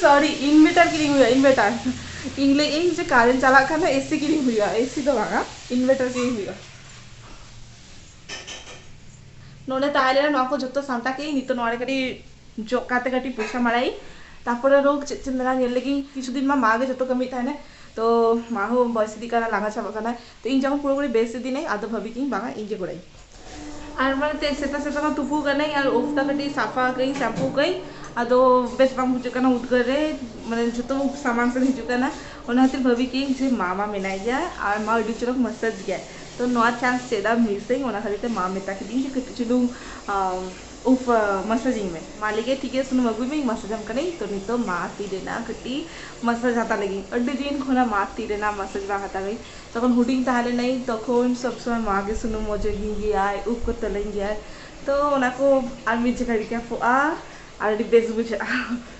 ᱥᱚᱨᱤ inverter ᱠᱤᱨᱤᱧ ᱦᱩᱭᱩᱜᱼᱟ inverter ᱤᱧ ᱞᱟᱹᱭ ᱤᱧ ᱡᱮ ᱠᱟᱨᱮᱱᱴ ᱪᱟᱞᱟᱜ ᱠᱷᱟᱱ ᱫᱚ ᱮᱥᱤ ᱠᱤᱨᱤᱧ ᱦᱩᱭᱩᱜᱼᱟ ᱮᱥᱤ ᱫᱚ ᱵᱟᱝᱟ ᱤᱱᱵᱷᱮᱴᱟᱨ ᱠᱤᱨᱤᱧ ᱦᱩᱭᱩᱜᱼᱟ ᱱᱚᱰᱮ ᱛᱟᱦᱮᱸ ᱞᱮᱱᱟ ᱱᱚᱣᱟ ᱠᱚ ᱡᱚᱛᱚ ᱥᱟᱢᱴᱟᱣ ᱠᱮᱜ ᱤᱧ ᱱᱤᱛᱚᱜ ᱱᱚᱣᱟ ᱨᱮ ᱠᱟᱹᱴᱤᱡ ᱡᱚᱜ ᱠᱟᱛᱮ ᱠᱟᱹᱴᱤᱡ ᱯᱚᱭᱥᱟ ᱢᱟᱲᱟᱭᱤᱧ ᱛᱟᱨᱯᱚᱨᱮ ᱨᱳᱜᱽ ᱪᱮᱫ ᱪᱮᱫ ᱢᱮᱱᱟᱜᱼᱟ ᱧᱮᱞ ᱞᱮᱜᱤᱧ ᱠᱤᱪᱷᱩ ᱫᱤᱱ ᱢᱟ ᱢᱟ ᱜᱮ ᱡᱚᱛᱚ ᱠᱟᱹᱢᱤᱭᱮᱫ ᱛᱟᱦᱮᱱᱟᱭ ᱛᱚ ᱢᱟ ᱦᱚᱸ ᱵᱚᱭᱮᱥ ᱤᱫᱤᱜ ᱠᱟᱱᱟᱭ ᱞᱟᱸᱜᱟ ᱪᱟᱵᱟᱜ ᱠᱟᱱᱟᱭ ᱛᱚ ᱤᱧ ᱡᱚᱠᱷᱚᱱ ᱯᱩᱨᱟᱹ ᱯᱩᱨᱤ ᱵᱮᱥ ᱤᱫᱤᱱᱟᱹᱧ ᱟᱫᱚ ᱵᱷᱟᱹᱵᱤ ᱠᱤᱧ ᱵᱟᱝᱟ ᱤᱧ ᱜᱮ ᱜᱚᱲᱟᱹᱧ ᱟᱨ ᱢᱟᱱᱮ ᱛᱮ ᱥᱮᱛᱟᱜ ᱥᱮᱛᱟᱜ ᱢᱟ ᱛᱩᱯᱩ ᱠᱟᱹᱱᱟᱹᱧ ᱟᱨ ᱩᱵ ᱛᱟ ᱠᱟᱹᱴᱤᱡ ᱥᱟᱯᱷᱟ ᱠᱟᱹᱧ ᱥᱟᱢᱯᱩ ᱠᱟᱹᱧ ᱟᱫᱚ ᱵᱮᱥ ᱵᱟᱝ ᱵᱩᱡᱷᱟᱹᱜ ᱠᱟᱱᱟ ᱩᱫᱽᱜᱟᱹᱨ ᱨᱮ ᱢᱟᱱᱮ ᱡᱚᱛᱚ ᱥᱟᱢᱟᱝ ᱥᱮᱫ ᱦᱤᱡᱩᱜ ᱠᱟᱱᱟ ᱚᱱᱟ ᱠᱷᱟᱹᱛᱤᱨ ᱵᱷᱟᱹᱵᱤ ᱠᱤᱧ ᱡᱮ ᱢᱟ ᱢᱟ ᱢᱮᱱᱟᱭ ᱜᱮᱭᱟ ᱟᱨ ᱢᱟ ᱟᱹᱰᱤ ᱪᱚᱨᱚᱠ ᱢᱟᱥᱟᱡᱽ ᱜᱮᱭᱟᱭ ᱛᱚ ᱱᱚᱣᱟ ᱪᱟᱱᱥ ᱪᱮᱫᱟᱜ ᱢᱤᱥᱟᱹᱧ ᱚᱱᱟ ᱠᱷᱟᱹᱛᱤᱨ ᱛᱮ ᱢᱟ ᱢᱮᱛᱟ ᱠᱤᱫᱤᱧ ᱡᱮ ᱠᱟᱹᱴᱤᱡ ᱪᱩᱞᱩᱝ ᱩᱯᱷ ᱢᱟᱥᱟᱡᱽ ᱤᱧ ᱢᱮ᱾ ᱢᱟ ᱞᱟᱹᱭ ᱠᱮᱫᱟᱭ ᱴᱷᱤᱠ ᱜᱮᱭᱟ ᱥᱩᱱᱩᱢ ᱟᱹᱜᱩᱭ ᱢᱮ ᱤᱧ ᱢᱟᱥᱟᱡᱽ ᱟᱢ ᱠᱟᱹᱱᱟᱹᱧ ᱛᱚ ᱱᱤᱛᱚᱜ ᱢᱟ ᱛᱤ ᱨᱮᱱᱟᱜ ᱠᱟᱹᱴᱤᱡ ᱢᱟᱥᱟᱡᱽ ᱦᱟᱛᱟᱣ ᱞᱟᱹᱜᱤᱫ ᱤᱧ ᱟᱹᱰᱤ ᱫᱤᱱ ᱠᱷᱚᱱᱟᱜ ᱢᱟ ᱛᱤ ᱨᱮᱱᱟᱜ ᱢᱟᱥᱟᱡᱽ ᱵᱟᱝ ᱦᱟᱛᱟᱣ ᱦᱩᱭ ᱛᱚᱠᱷᱚᱱ ᱦᱩᱰᱤᱧ ᱛᱟᱦᱮᱸ ᱞᱮᱱᱟᱹᱧ ᱛᱚᱠᱷᱚᱱ ᱥᱚᱵᱽ ᱥᱚᱢᱚᱭ ᱢᱟ ᱜᱮ ᱥᱩᱱᱩᱢ ᱚᱡᱚᱜᱤᱧ ᱜᱮᱭᱟᱭ ᱩᱯᱷ ᱠᱚ ᱛᱚᱞᱤᱧ ᱜᱮᱭᱟᱭ ᱛᱚ ᱚᱱᱟ ᱠᱚ ᱟᱨ ᱢᱤᱫ ᱡᱚᱠᱷᱟᱡ ᱨᱤᱠᱮᱯᱚᱜᱼᱟ ᱟᱨ ᱟᱹᱰᱤ ᱵᱮᱥ ᱵᱩᱡᱷᱟᱹᱜᱼᱟ᱾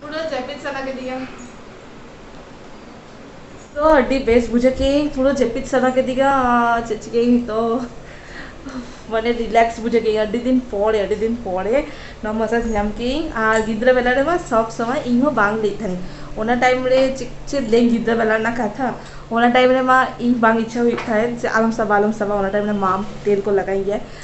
ᱯᱩᱨᱟᱹ ᱡᱟᱹᱯᱤᱫ ᱥᱟᱱᱟ ᱠᱮᱫᱤᱧᱟ ᱛᱚ ᱟᱹᱰᱤ ᱵᱮᱥ ᱵᱩᱡᱷᱟᱹᱣ ᱠᱮᱫᱟᱹᱧ ᱯᱩᱨᱟᱹ ᱡᱟᱹᱯᱤᱫ ᱥᱟᱱᱟ ᱠᱮᱫᱤᱧᱟ ᱪᱮᱫ ᱪᱤᱠᱟᱹᱭᱟᱹᱧ ᱱᱤᱛᱚᱜ ᱢᱟᱱᱮ ᱨᱤᱞᱮᱠᱥ ᱵᱩᱡᱷᱟᱹᱣ ᱠᱮᱫᱟᱹᱧ ᱟᱹᱰᱤ ᱫᱤᱱ ᱯᱚᱨᱮ ᱟᱹᱰᱤ ᱫᱤᱱ ᱯᱚᱨᱮ ᱱᱚᱣᱟ ᱢᱟᱥᱟᱡᱽ ᱧᱟᱢ ᱠᱮᱫᱟᱹᱧ ᱟᱨ ᱜᱤᱫᱽᱨᱟᱹ ᱵᱮᱞᱟ ᱨᱮᱢᱟ ᱥᱚᱵ ᱥᱚᱢᱚᱭ ᱤᱧ ᱦᱚᱸ ᱵᱟᱝ ᱞᱟᱹᱭᱮᱫ ᱛᱟᱦᱮᱱᱤᱧ ᱚᱱᱟ ᱴᱟᱭᱤᱢ ᱨᱮ ᱪᱮᱫ ᱪᱮᱫ ᱞᱟᱹᱭ ᱜᱤᱫᱽᱨᱟᱹ ᱵᱮᱞᱟ ᱨᱮᱱᱟᱜ ᱠᱟᱛᱷᱟ ᱚᱱᱟ ᱴᱟᱭᱤᱢ ᱨᱮᱢᱟ ᱤᱧ ᱵᱟᱝ ᱤᱪᱪᱷᱟ ᱦᱩᱭᱩᱜ ᱛᱟᱦᱮᱸᱫ ᱡᱮ ᱟᱞᱚᱢ ᱥᱟᱵᱟ ᱟᱞᱚᱢ ᱥᱟᱵᱟ ᱚᱱᱟ ᱴᱟᱭᱤᱢ ᱨᱮ ᱢᱟᱢ ᱛᱮᱞ ᱠᱚ ᱞᱟᱜᱟᱣᱤᱧ ᱜᱮᱭᱟ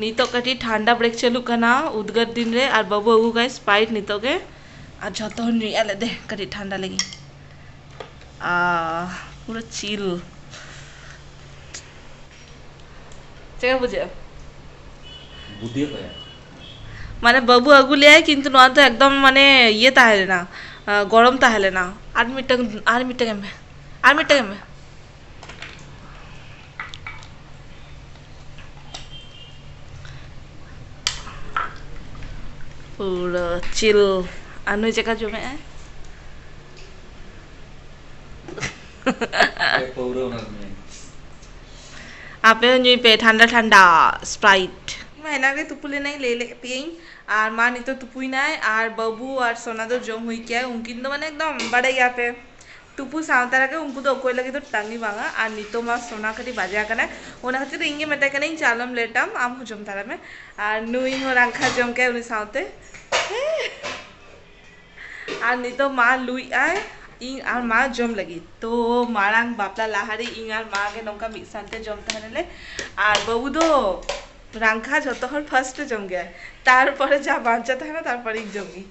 ᱱᱤᱛᱚᱜ ᱠᱟᱹᱴᱤᱡ ᱴᱷᱟᱱᱰᱟ ᱵᱨᱮᱠ ᱪᱟᱹᱞᱩᱜ ᱠᱟᱱᱟ ᱩᱫᱽᱜᱟᱹᱨ ᱫᱤᱱ ᱨᱮ ᱟᱨ ᱵᱟᱹᱵᱩ ᱟᱹᱜᱩ ᱠᱟᱭ ᱥᱯᱨᱟᱭᱤᱴ ᱱᱤᱛᱚᱜ ᱜᱮ ᱟᱨ ᱡᱚᱛᱚ ᱦᱚᱲ ᱧᱩᱭᱮᱫᱼᱟ ᱞᱮ ᱫᱮ ᱠᱟᱹᱴᱤᱡ ᱴᱷᱟᱱᱰᱟ ᱞᱟᱹᱜᱤᱫ ᱟᱦ ᱯᱩᱨᱟᱹ ᱪᱤᱞ ᱪᱮᱫ ᱞᱮᱠᱟ ᱵᱩᱡᱷᱟᱹᱜᱼᱟ ᱵᱩᱫᱷᱤ ᱚᱠᱚᱭᱟᱜ ᱢᱟᱱᱮ ᱵᱟᱹᱵᱩ ᱟᱹᱜᱩ ᱞᱮᱭᱟᱭ ᱠᱤᱱᱛᱩ ᱱᱚᱣᱟ ᱫᱚ ᱮᱠᱫᱚᱢ ᱢᱟᱱᱮ ᱤᱭᱟᱹ ᱛᱟᱦᱮᱸ ᱞᱮᱱᱟ ᱜᱚᱨᱚᱢ ᱛᱟᱦᱮᱸ ᱞᱮᱱᱟ ᱟᱨ ᱢᱤᱫᱴᱟᱝ ᱟᱨ ᱢᱤᱫᱴᱟᱝ ᱮᱢ ᱢᱮ ᱟᱨ ᱢᱤᱫᱴᱟᱝ ᱮᱢ ᱢᱮ ᱯᱩᱨᱟᱹ ᱪᱤᱞ ᱟᱨ ᱱᱩᱭ ᱪᱮᱫᱠᱟ ᱡᱚᱢᱮᱫ ᱟᱭ ᱟᱯᱮ ᱦᱚᱸ ᱧᱩᱭ ᱯᱮ ᱴᱷᱟᱱᱰᱟ ᱴᱷᱟᱱᱰᱟ ᱥᱯᱨᱟᱭᱤᱴ ᱢᱟ ᱮᱱᱟᱝ ᱨᱮ ᱛᱩᱯᱩ ᱞᱮᱱᱟᱹᱧ ᱞᱟᱹᱭ ᱞᱮᱫ ᱯᱮᱭᱟᱹᱧ ᱟᱨ ᱢᱟ ᱱᱤᱛᱚᱜ ᱛᱩᱯᱩᱭᱱᱟᱭ ᱟᱨ ᱵᱟᱹᱵᱩ ᱟᱨ ᱥᱚᱱᱟ ᱫᱚ ᱡᱚᱢ ᱦᱩᱭ ᱠᱮᱜᱼᱟ ᱩᱱᱠᱤᱱ ᱫᱚ ᱢᱟᱱᱮ ᱮᱠᱫᱚᱢ ᱵᱟᱲᱟᱭ ᱜᱮᱭᱟ ᱯᱮ ᱛᱩᱯᱩ ᱥᱟᱶ ᱛᱟᱨᱟ ᱜᱮ ᱩᱱᱠᱩ ᱫᱚ ᱚᱠᱚᱭ ᱞᱟᱹᱜᱤᱫ ᱫᱚ ᱴᱟᱺᱜᱤ ᱵᱟᱝᱟ ᱟᱨ ᱱᱤᱛᱚᱜ ᱢᱟ ᱥᱚᱱᱟ ᱠᱟᱹᱴᱤᱡ ᱵᱟᱡᱮ ᱟᱠᱟᱱᱟᱭ ᱚᱱᱟ ᱠᱷᱟᱹᱛᱤᱨ ᱤᱧ ᱜᱮ ᱢᱮᱛᱟᱭ ᱠᱟᱹᱱᱟᱹᱧ ᱪᱚ ᱟᱞᱚᱢ ᱞᱮᱴᱟ ᱟᱢ ᱦᱚᱸ ᱡᱚᱢ ᱛᱟᱨᱟᱭ ᱢᱮ ᱟᱨ ᱱᱩᱭ ᱦᱚᱸ ᱨᱟᱝᱠᱷᱟ ᱡᱚᱢ ᱠᱮᱫᱟᱭ ᱩᱱᱤ ᱥᱟᱶᱛᱮ ᱟᱨ ᱱᱤᱛᱚᱜ ᱢᱟ ᱞᱩᱭ ᱟᱭ ᱤᱧ ᱟᱨ ᱢᱟ ᱡᱚᱢ ᱞᱟᱹᱜᱤᱫ ᱛᱚ ᱢᱟᱲᱟᱝ ᱵᱟᱯᱞᱟ ᱞᱟᱦᱟᱨᱮ ᱤᱧ ᱟᱨ ᱢᱟ ᱜᱮ ᱱᱚᱝᱠᱟ ᱢᱤᱫ ᱥᱟᱶᱛᱮ ᱡᱚᱢ ᱛᱟᱦᱮᱱᱟᱞᱮ ᱟᱨ ᱵᱟᱹᱵᱩ ᱫᱚ ᱨᱟᱝᱠᱷᱟ ᱡᱚᱛᱚ ᱦᱚᱲ ᱯᱷᱟᱥᱴ ᱮ ᱡᱚᱢ ᱜᱮᱭᱟᱭ ᱛᱟᱨᱯᱚᱨᱮ ᱡᱟ ᱵᱟᱧᱪᱟᱣ ᱛᱟᱦᱮᱱᱟ ᱛᱟᱨᱯᱚᱨᱮ ᱤᱧ ᱡᱚᱢ ᱜᱮᱭᱟᱹᱧ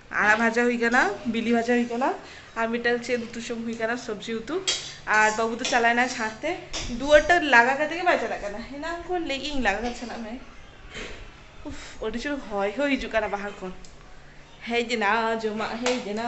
ᱟᱲᱟᱜ ᱵᱷᱟᱡᱟ ᱦᱩᱭ ᱠᱟᱱᱟ ᱵᱤᱞᱤ ᱵᱷᱟᱡᱟ ᱦᱩᱭ ᱠᱟᱱᱟ ᱟᱨ ᱢᱤᱫᱴᱟᱝ ᱪᱮᱫ ᱩᱛᱩ ᱪᱚᱝ ᱦᱩᱭ ᱠᱟᱱᱟ ᱥᱚᱵᱽᱡᱤ ᱩᱛᱩ ᱟᱨ ᱵᱟᱹᱵᱩ ᱫᱚ ᱪᱟᱞᱟᱣ ᱮᱱᱟᱭ ᱪᱷᱟᱸᱴ ᱛᱮ ᱫᱩᱣᱟᱹᱨᱴᱟ ᱞᱟᱜᱟ ᱠᱟᱛᱮ ᱜᱮ ᱵᱟᱭ ᱪᱟᱞᱟᱜ ᱠᱟᱱᱟ ᱮᱱᱟᱝ ᱠᱷᱚᱱ ᱞᱟᱹᱭᱮᱫ ᱤᱧ ᱞᱟᱜᱟ ᱠᱟᱛᱮ ᱪᱟᱞᱟᱜ ᱢᱮ ᱩᱯᱷ ᱟᱹᱰᱤ ᱡᱳᱨ ᱦᱚᱭ ᱦᱚᱸ ᱦᱤᱡᱩᱜ ᱠᱟᱱᱟ ᱵᱟᱦᱨᱮ ᱠᱷᱚᱱ ᱦᱮᱡ ᱮᱱᱟ ᱡᱚᱢᱟᱜ ᱦᱮᱡ ᱮᱱᱟ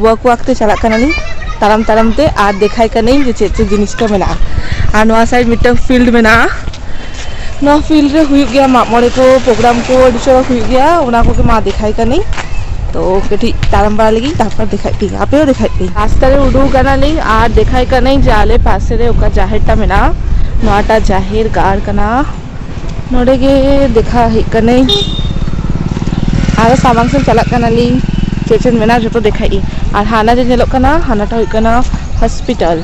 ᱳᱣᱟᱠ ᱳᱣᱟᱠ ᱛᱮ ᱪᱟᱞᱟᱜ ᱠᱟᱱᱟᱞᱤᱧ ᱛᱟᱲᱟᱢ ᱛᱟᱲᱟᱢ ᱛᱮ ᱟᱨ ᱫᱮᱠᱷᱟᱭ ᱠᱟᱹᱱᱟᱹᱧ ᱡᱮ ᱪᱮᱫ ᱪᱮᱫ ᱡᱤᱱᱤᱥ ᱠᱚ ᱢᱮᱱᱟᱜᱼᱟ ᱟᱨ ᱱᱚᱣᱟ ᱥᱟᱭᱤᱰ ᱢᱤᱫᱴᱟᱝ ᱯᱷᱤᱞᱰ ᱢᱮᱱᱟᱜᱼᱟ ᱱᱚᱣᱟ ᱯᱷᱤᱞᱰ ᱨᱮ ᱦᱩᱭᱩᱜ ᱜᱮᱭᱟ ᱢᱟᱜ ᱢᱚᱬᱮ ᱠᱚ ᱯᱨᱳᱜᱨᱟᱢ ᱠᱚ ᱟᱹᱰᱤ ᱪᱚᱨᱚᱠ ᱦᱩᱭᱩᱜ ᱜᱮᱭᱟ ᱚᱱᱟ ᱠᱚᱜᱮ ᱢᱟ ᱫᱮᱠᱷᱟᱭ ᱠᱟᱹᱱᱟᱹᱧ ᱛᱚ ᱠᱟᱹᱴᱤᱡ ᱛᱟᱲᱟᱢ ᱵᱟᱲᱟ ᱞᱮᱜᱤᱧ ᱛᱟᱨᱯᱚᱨ ᱫᱮᱠᱷᱟᱭᱮᱫ ᱯᱮᱭᱟᱹᱧ ᱟᱯᱮ ᱦᱚᱸ ᱫᱮᱠᱷᱟᱭᱮᱫ ᱯᱮᱭᱟᱹᱧ ᱨᱟᱥᱛᱟ ᱨᱮ ᱩᱰᱩᱠ ᱠᱟᱱᱟᱞᱤᱧ ᱟᱨ ᱫᱮᱠᱷᱟᱭ ᱠᱟᱹᱱᱟᱹᱧ ᱡᱮ ᱟᱞᱮ ᱯᱟᱥᱮ ᱨᱮ ᱚᱠᱟ ᱡᱟᱦᱮᱨ ᱴᱟᱜ ᱢᱮᱱᱟᱜᱼᱟ ᱱᱚᱣᱟᱴᱟᱜ ᱡᱟᱦᱮᱨ ᱜᱟᱲ ᱠᱟᱱᱟ ᱱᱚᱰᱮ ᱜᱮ ᱫᱮᱠᱷᱟ ᱦᱮᱡ ᱠᱟᱹᱱᱟᱹᱧ ᱟᱨ ᱥᱟᱢᱟᱝ ᱥᱮᱫ ᱪᱟᱞᱟᱜ ᱠᱟᱱᱟᱞᱤᱧ ᱪᱮᱫ ᱪᱮᱫ ᱢᱮᱱᱟᱜᱼᱟ ᱡᱚᱛᱚ ᱫᱮᱠᱷᱟᱭ ᱤᱧ ᱟᱨ ᱦᱟᱱᱟ ᱡᱮ ᱧᱮᱞᱚᱜ ᱠᱟᱱᱟ ᱦᱟᱱᱟᱴᱟᱜ ᱦᱩᱭᱩᱜ ᱠᱟᱱᱟ ᱦᱚᱥᱯᱤᱴᱟᱞ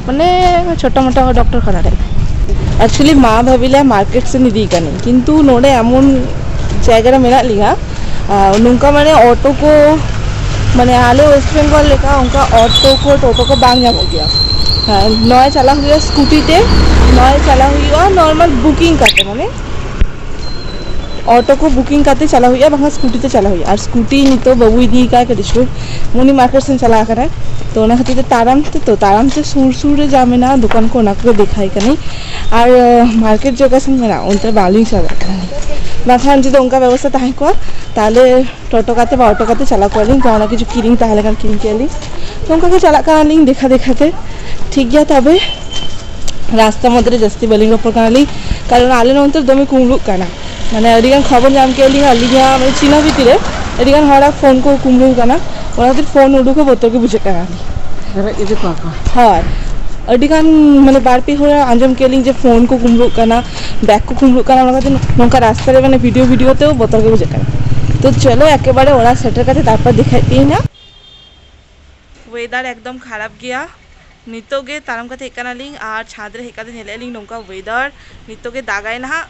ᱢᱟᱱᱮ ᱪᱷᱳᱴᱳ ᱢᱳᱴᱳ ᱰᱚᱠᱴᱚᱨ ᱠᱷᱟᱱᱟ ᱴᱟᱭᱤᱯ ᱮᱠᱪᱩᱭᱮᱞᱤ ᱢᱟ ᱵᱷᱟᱹᱵᱤ ᱞᱮᱫᱼᱟ ᱢᱟᱨᱠᱮᱴ ᱥᱮᱫ ᱤᱫᱤᱭᱮ ᱠᱟᱹᱱᱟᱹᱧ ᱠᱤᱱᱛᱩ ᱱᱚᱰᱮ ᱮᱢᱚᱱ ᱡᱟᱭᱜᱟ ᱨᱮ ᱢᱮᱱᱟᱜ ᱞᱤᱧᱟᱹ ᱟᱨ ᱱᱚᱝᱠᱟ ᱢᱟᱱᱮ ᱚᱴᱳ ᱠᱚ ᱢᱟᱱᱮ ᱟᱞᱮ ᱳᱭᱮᱥᱴ ᱵᱮᱝᱜᱚᱞ ᱞᱮᱠᱟ ᱚᱱᱠᱟ ᱚᱴᱳ ᱠᱚ ᱴᱳᱴᱳ ᱠᱚ ᱵᱟᱝ ᱧᱟᱢᱚᱜ ᱜᱮᱭᱟ ᱦᱮᱸ ᱱᱚᱣᱟ ᱪᱟᱞᱟᱜ ᱦᱩᱭᱩᱜᱼᱟ ᱥᱠᱩᱴᱤ ᱛᱮ ᱱᱚᱣᱟ ᱪᱟᱞᱟᱣ ᱦᱩᱭᱩᱜᱼᱟ ᱱᱚᱨᱢᱟᱞ ᱵᱩᱠᱤᱝ ᱠᱟᱛᱮ ᱢᱟᱱᱮ ᱚᱴᱳ ᱠᱚ ᱵᱩᱠᱤᱝ ᱠᱟᱛᱮ ᱪᱟᱞᱟᱜ ᱦᱩᱭᱩᱜᱼᱟ ᱵᱟᱝᱠᱷᱟᱱ ᱥᱠᱩᱴᱤ ᱛᱮ ᱪᱟᱞᱟᱜ ᱦᱩᱭᱩᱜᱼᱟ ᱟᱨ ᱥᱠᱩᱴᱤ ᱱᱤᱛᱚᱜ ᱵᱟᱹᱵᱩ ᱤᱫᱤᱭᱮ ᱠᱟᱱᱟ ᱠᱟᱹᱴᱤᱡ ᱪᱩᱞᱩᱝ ᱩᱱᱤ ᱢᱟᱨᱠᱮᱴ ᱥᱮᱱ ᱪᱟᱞᱟᱣ ᱠᱟᱱᱟᱭ ᱛᱚ ᱚᱱᱟ ᱠᱷᱟᱹᱛᱤᱨ ᱛᱮ ᱛᱟᱲᱟᱢ ᱛᱮᱛᱚ ᱛᱟᱲᱟᱢ ᱛᱮ ᱥᱩᱨ ᱥᱩᱨ ᱨᱮ ᱡᱟ ᱢᱮᱱᱟᱜᱼᱟ ᱫᱚᱠᱟᱱ ᱠᱚ ᱚᱱᱟ ᱠᱚᱜᱮ ᱫᱮᱠᱷᱟᱭᱮ ᱠᱟᱹᱱᱟᱹᱧ ᱟᱨ ᱢᱟᱨᱠᱮᱴ ᱡᱟᱭᱜᱟ ᱥᱮᱱ ᱢᱮᱱᱟᱜᱼᱟ ᱚᱱᱛᱮ ᱵᱟᱝᱞᱤᱧ ᱪᱟᱞᱟᱣ ᱫᱟᱲᱮᱭᱟᱜ ᱠᱟᱱᱟ ᱵᱟᱝᱠᱷᱟᱱ ᱡᱩᱫᱤ ᱚᱱᱠᱟ ᱵᱮᱵᱚᱥᱛᱟ ᱛᱟᱦᱮᱸ ᱠᱚᱜᱼᱟ ᱛᱟᱦᱚᱞᱮ ᱴᱳᱴᱳ ᱠᱟᱛᱮᱫ ᱵᱟ ᱚᱴᱳ ᱠᱟᱛᱮᱫ ᱪᱟᱞᱟᱣ ᱠᱚᱜᱼᱟ ᱞᱤᱧ ᱡᱟᱦᱟᱱᱟᱜ ᱠᱤᱪᱷᱩ ᱠᱤᱨᱤᱧ ᱛᱟᱦᱮᱸ ᱞᱮᱱᱠᱷᱟᱱ ᱠᱤᱨᱤᱧ ᱠᱮᱭᱟ ᱞᱤᱧ ᱱᱚᱝᱠᱟ ᱜᱮ ᱪᱟᱞᱟᱜ ᱠᱟᱱᱟ ᱞᱤᱧ ᱫᱮᱠᱷᱟ ᱫᱮᱠᱷᱟ ᱛᱮ ᱴᱷᱤᱠ ᱜᱮᱭᱟ ᱛᱚᱵᱮ ᱨᱟᱥᱛᱟ ᱢᱚᱫᱽᱫᱷᱮ ᱨᱮ ᱡᱟᱹᱥᱛᱤ ᱵᱟᱹᱞᱤᱧ ᱨᱚᱯᱚᱲ ᱠᱟᱱᱟ ᱞᱤᱧ ᱠᱟᱨᱚᱱ ᱟᱞᱮ ᱱᱚᱱᱛᱮ ᱫᱚᱢᱮ ᱠᱩᱢᱵᱽᱲᱩᱜ ᱠᱟᱱᱟ ᱢᱟᱱᱮ ᱟᱹᱰᱤ ᱜᱟᱱ ᱠᱷᱚᱵᱚᱨ ᱧᱟᱢ ᱠᱮᱫᱼᱟ ᱞᱤᱧ ᱟᱹᱞᱤᱧᱟᱜ ᱢᱟᱱᱮ ᱪᱤᱱᱦᱟᱹ ᱵᱷᱤᱛᱤᱨ ᱨᱮ ᱟᱹᱰᱤ ᱜᱟᱱ ᱦᱚᱲᱟᱜ ᱯᱷᱳᱱ ᱠᱚ ᱠᱩᱢᱵᱽᱲᱩ ᱟᱠᱟᱱᱟ ᱚᱱᱟ ᱠᱷᱟᱹᱛᱤᱨ ᱯᱷᱳᱱ ᱩᱰᱩᱠ ᱦᱚᱸ ᱵᱚᱛᱚᱨ ᱜᱮ ᱵᱩᱡᱷᱟᱹᱜ ᱠᱟᱱᱟ ᱦᱮᱨᱮᱡ ᱤᱫᱤ ᱠᱚᱣᱟ ᱠᱚ ᱦᱳᱭ ᱟᱹᱰᱤ ᱜᱟᱱ ᱢᱟᱱᱮ ᱵᱟᱨ ᱯᱮ ᱦᱚᱲ ᱟᱸᱡᱚᱢ ᱠᱮᱫ ᱞᱤᱧ ᱡᱮ ᱯᱷᱳᱱ ᱠᱚ ᱠᱩᱢᱵᱽᱲᱩᱜ ᱠᱟᱱᱟ ᱵᱮᱜᱽ ᱠᱚ ᱠᱩᱢᱵᱽᱲᱩᱜ ᱠᱟᱱᱟ ᱚᱱᱟ ᱠᱷᱟᱹᱛᱤᱨ ᱱᱚᱝᱠᱟ ᱨᱟᱥᱛᱟ ᱨᱮ ᱢᱟᱱᱮ ᱵᱷᱤᱰᱤᱭᱳ ᱵᱷᱤᱰᱤᱭᱳ ᱛᱮ ᱵᱚᱛᱚᱨ ᱜᱮ ᱵᱩᱡᱷᱟᱹᱜ ᱠᱟᱱᱟ ᱛᱚ ᱪᱚᱞᱚ ᱮᱠᱮᱵᱟᱨᱮ ᱚᱲᱟᱜ ᱥᱮᱴᱮᱨ ᱠᱟᱛᱮ ᱛᱟᱨᱯᱚᱨ ᱫᱮᱠᱷᱟᱭᱮᱫ ᱯᱮᱭᱟᱹᱧ ᱦᱟᱸᱜ ᱳᱭᱮᱫᱟᱨ ᱮᱠᱫᱚᱢ ᱠᱷᱟᱨᱟᱯ ᱜᱮᱭᱟ ᱱᱤᱛᱚᱜ ᱜᱮ ᱛᱟᱲᱟᱢ ᱠᱟᱛᱮ ᱦᱮᱡ ᱠᱟᱱᱟᱞᱤᱧ ᱟᱨ ᱪᱷᱟᱸᱫᱽ ᱨᱮ ᱦᱮᱡ ᱠᱟᱛᱮ ᱧᱮᱞᱮᱫ ᱞᱤᱧ ᱱᱚᱝᱠᱟ ᱳᱭᱮᱫᱟᱨ ᱱᱤᱛᱚᱜ ᱜᱮ ᱫᱟᱜᱟᱭ ᱱᱟᱦᱟᱜ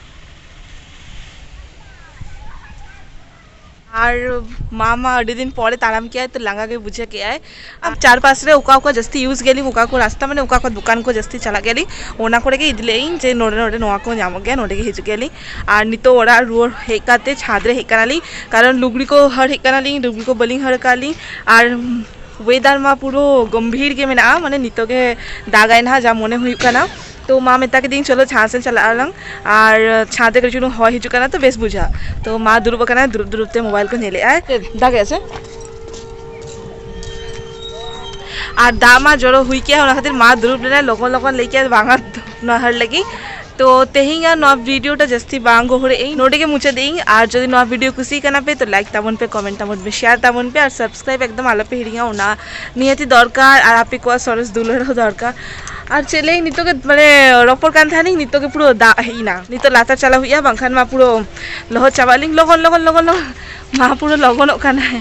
ᱟᱨ ᱢᱟ ᱢᱟ ᱟᱹᱰᱤ ᱫᱤᱱ ᱯᱚᱨᱮ ᱛᱟᱲᱟᱢ ᱠᱮᱜ ᱟᱭ ᱛᱚ ᱞᱟᱸᱜᱟ ᱜᱮ ᱵᱩᱡᱷᱟᱹᱣ ᱠᱮᱜ ᱟᱭ ᱟᱨ ᱪᱟᱨ ᱯᱟᱥ ᱨᱮ ᱚᱠᱟ ᱚᱠᱟ ᱡᱟᱹᱥᱛᱤ ᱤᱭᱩᱡᱽ ᱜᱮᱭᱟ ᱞᱤᱧ ᱚᱠᱟ ᱠᱚ ᱨᱟᱥᱛᱟ ᱢᱟᱱᱮ ᱚᱠᱟ ᱠᱚ ᱫᱚᱠᱟᱱ ᱠᱚ ᱡᱟᱹᱥᱛᱤ ᱪᱟᱞᱟᱜ ᱜᱮᱭᱟ ᱞᱤᱧ ᱚᱱᱟ ᱠᱚᱨᱮ ᱜᱮ ᱤᱫᱤ ᱞᱮᱜ ᱤᱧ ᱡᱮ ᱱᱚᱰᱮ ᱱᱚᱰᱮ ᱱᱚᱣᱟ ᱠᱚ ᱧᱟᱢᱚᱜ ᱜᱮᱭᱟ ᱱᱚᱰᱮ ᱜᱮ ᱦᱤᱡᱩᱜ ᱜᱮᱭᱟ ᱞᱤᱧ ᱟᱨ ᱱᱤᱛᱚᱜ ᱚᱲᱟᱜ ᱨᱩᱣᱟᱹᱲ ᱦᱮᱡ ᱠᱟᱛᱮ ᱪᱷᱟᱫᱽ ᱨᱮ ᱦᱮᱡ ᱠᱟᱱᱟ ᱞᱤᱧ ᱠᱟᱨᱚᱱ ᱞᱩᱜᱽᱲᱤ ᱠᱚ ᱦᱟᱹᱨ ᱦᱮᱡ ᱠᱟᱱᱟ ᱞᱤᱧ ᱞᱩᱜᱽᱲᱤ ᱠᱚ ᱵᱟᱹᱞᱤᱧ ᱦᱟᱹᱨ ᱠᱟᱜ ᱞᱤᱧ ᱟᱨ ᱚᱭᱮᱫᱟᱨ ᱢᱟ ᱯᱩᱨᱟᱹ ᱜᱚᱢᱵᱷᱤᱨ ᱜᱮ ᱢᱮᱱᱟᱜᱼᱟ ᱢᱟᱱᱮ ᱱᱤᱛᱚᱜ ᱜᱮ ᱫᱟᱜᱟᱭ ᱱᱟᱜ ᱡᱟ ᱢᱚᱱᱮ ᱦᱩᱭᱩᱜ ᱠᱟᱱᱟ ᱛᱚ ᱢᱟ ᱢᱮᱛᱟ ᱠᱮᱫᱮᱭᱟᱹᱧ ᱪᱚᱞᱚ ᱪᱷᱟᱸᱫᱽ ᱥᱮᱫ ᱪᱟᱞᱟᱜ ᱟᱞᱟᱝ ᱟᱨ ᱪᱷᱟᱸᱫᱽ ᱨᱮ ᱠᱟᱹᱴᱤᱡ ᱪᱩᱞᱩᱝ ᱦᱚᱭ ᱦᱤᱡᱩᱜ ᱠᱟᱱᱟ ᱛᱚ ᱵᱮᱥ ᱵᱩᱡᱷᱟᱹᱜᱼᱟ ᱛᱚ ᱢᱟ ᱫᱩᱲᱩᱵ ᱟᱠᱟᱱᱟᱭ ᱫᱩᱲᱩᱵ ᱫᱩᱲᱩᱵ ᱛᱮ ᱢᱳᱵᱟᱭᱤᱞ ᱠᱚ ᱧᱮᱞᱮᱫ ᱟᱭ ᱫᱟᱜᱮᱫ ᱥᱮ ᱟᱨ ᱫᱟᱜ ᱢᱟ ᱡᱚᱨᱚ ᱦᱩᱭ ᱠᱮᱜᱼᱟ ᱚᱱᱟ ᱠᱷᱟᱹᱛᱤᱨ ᱢᱟ ᱫᱩᱲᱩᱵ ᱞᱮᱱᱟᱭ ᱞᱚᱜᱚᱱ ᱞᱚᱜᱚᱱ ᱞᱟᱹᱭ ᱠᱮᱜᱼᱟ ᱵᱟᱝᱟ ᱱᱚᱦᱟᱨ ᱞᱟᱹᱜᱤᱫ ᱛᱚ ᱛᱮᱦᱮᱧ ᱟᱨ ᱱᱚᱣᱟ ᱵᱷᱤᱰᱤᱭᱳᱴᱟ ᱡᱟᱹᱥᱛᱤ ᱵᱟᱝ ᱜᱚᱦᱚᱲᱮᱜ ᱟᱹᱧ ᱱᱚᱰᱮ ᱜᱮ ᱢᱩᱪᱟᱹᱫᱮᱜ ᱟᱹᱧ ᱟᱨ ᱡᱩᱫᱤ ᱱᱚᱣᱟ ᱵᱷᱤᱰᱤᱭᱳ ᱠᱩᱥᱤ ᱠᱟᱱᱟ ᱯᱮ ᱛᱚ ᱞᱟᱭᱤᱠ ᱛᱟᱵᱚᱱ ᱯᱮ ᱠᱚᱢᱮᱱᱴ ᱛᱟᱵᱚᱱ ᱯᱮ ᱥᱮᱭᱟᱨ ᱛᱟᱵᱚᱱ ᱯᱮ ᱟᱨ ᱥᱟᱵᱥᱠᱨᱟᱭᱤᱵ ᱮᱠᱫᱚᱢ ᱟᱞᱚ ᱯᱮ ᱦᱤᱲᱤᱧᱟ ᱚᱱᱟ ᱱᱤᱦᱟᱹᱛᱤ ᱫᱚᱨᱠᱟᱨ ᱟᱨ ᱟᱯᱮ ᱠᱚᱣᱟᱜ ᱥᱚᱨᱮᱥ ᱫᱩᱞᱟᱹᱲ ᱦᱚᱸ ᱫᱚᱨᱠᱟᱨ ᱟᱨ ᱪᱮᱫ ᱞᱟᱹᱭᱟᱹᱧ ᱱᱤᱛᱚᱜ ᱜᱮ ᱢᱟᱱᱮ ᱨᱚᱯᱚᱲ ᱠᱟᱱ ᱛᱟᱦᱮᱱᱤᱧ ᱱᱤᱛᱚᱜ ᱜᱮ ᱯᱩᱨᱟᱹ ᱫᱟᱜ ᱦᱮᱡ ᱮᱱᱟ ᱱᱤᱛᱚᱜ ᱞᱟᱛᱟᱨ ᱪᱟᱞᱟᱜ ᱦᱩᱭᱩᱜᱼᱟ ᱵᱟᱝᱠᱷᱟᱱ ᱢᱟ ᱯᱩᱨᱟᱹ ᱞᱚᱦᱚᱫ ᱪᱟᱵᱟᱜ ᱟᱹᱞᱤᱧ ᱞᱚᱜᱚᱱ ᱞᱚᱜᱚᱱ ᱞᱚᱜᱚᱱ ᱞᱚᱜᱚᱱ ᱢᱟ ᱯᱩᱨᱟᱹ ᱞᱚᱜᱚᱱᱚᱜ ᱠᱟᱱᱟᱭ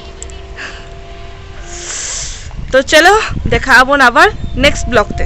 ᱛᱚ ᱪᱚᱞᱚ ᱫᱮᱠᱷᱟᱜ ᱟᱵᱚᱱ ᱟᱵᱟᱨ ᱱᱮᱠᱥᱴ ᱵᱞᱚᱜᱽ ᱛᱮ